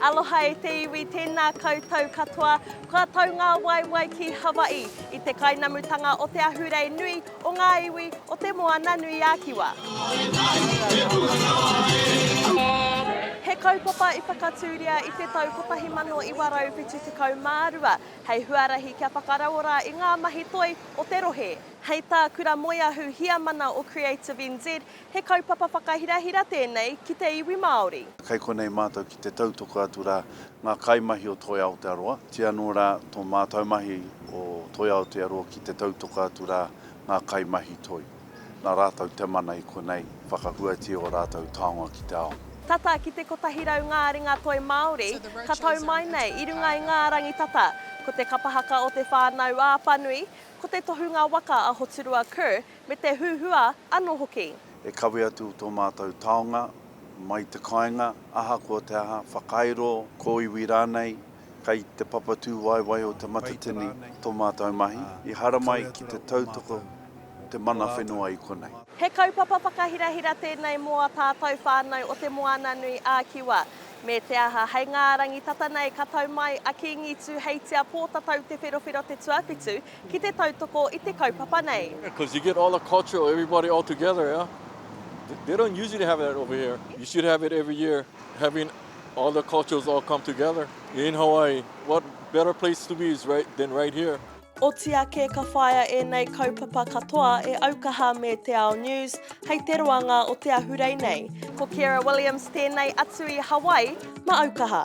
Aloha e te iwi, tēnā koutou katoa. Kua tau ngā waewae ki Hawaii, i te kainamutanga o te ahurei nui o ngā iwi o Te Moananui-a-Kiwa. He kaupapa i whakatūria i te tau 1972 hei huarahi kia whakarauora i ngā mahi toi o te rohe. Hei tā Kura Moeahu Heamana o Creative NZ, he kaupapa whakahirahira tēnei ki te iwi Māori. Kei konei mātou ki te tautoko atu rā ngā kaimahi o Toi Aotearoa, kī anō rā tō mātou mahi o Toi Aotearoa ki te tautoko atu rā ngā kaimahi toi, nā rātou te mana i konei whakahuatia ō rātou taonga ki te ao. Tata ki te kotahi rau ngā ringa toi Māori ka tau mai nei i runga i ngā rangi tata. Ko te kapahaka o te whānau ā-whanui, Ko te tohunga waka a Hoturua Kerr me te huhua ano hoki. E kawe atu tō mātou taonga, mai te kāinga, ahakoa te aha, whakairo, kōiwi rānei, kei te papatū waewae o Te Matatini tō mātou mahi, i haramai ki te tautoko te mana whenua i konei. He kaupapa whakahirahira tēnei mō a tātou whānau o Te Moananui-ā-Kiwa. Me te aha, hei ngā rangi tata nei ka tau mai a Kīngi Tūheitia Pōtatau Te Wherowhero Te Tuawhitu ki te tautoko i te kaupapa nei. Because you get all the culture of everybody all together yeah they don't usually have that over here you should have it every year having all the cultures all come together in Hawaii what better place to be is right than right here. Oti ake ka whāia ēnei kaupapa katoa e Aukaha me Te Ao News hei te roanga o te ahurei nei. Ko Ciara Williams tēnei atu i Hawaii ma Aukaha.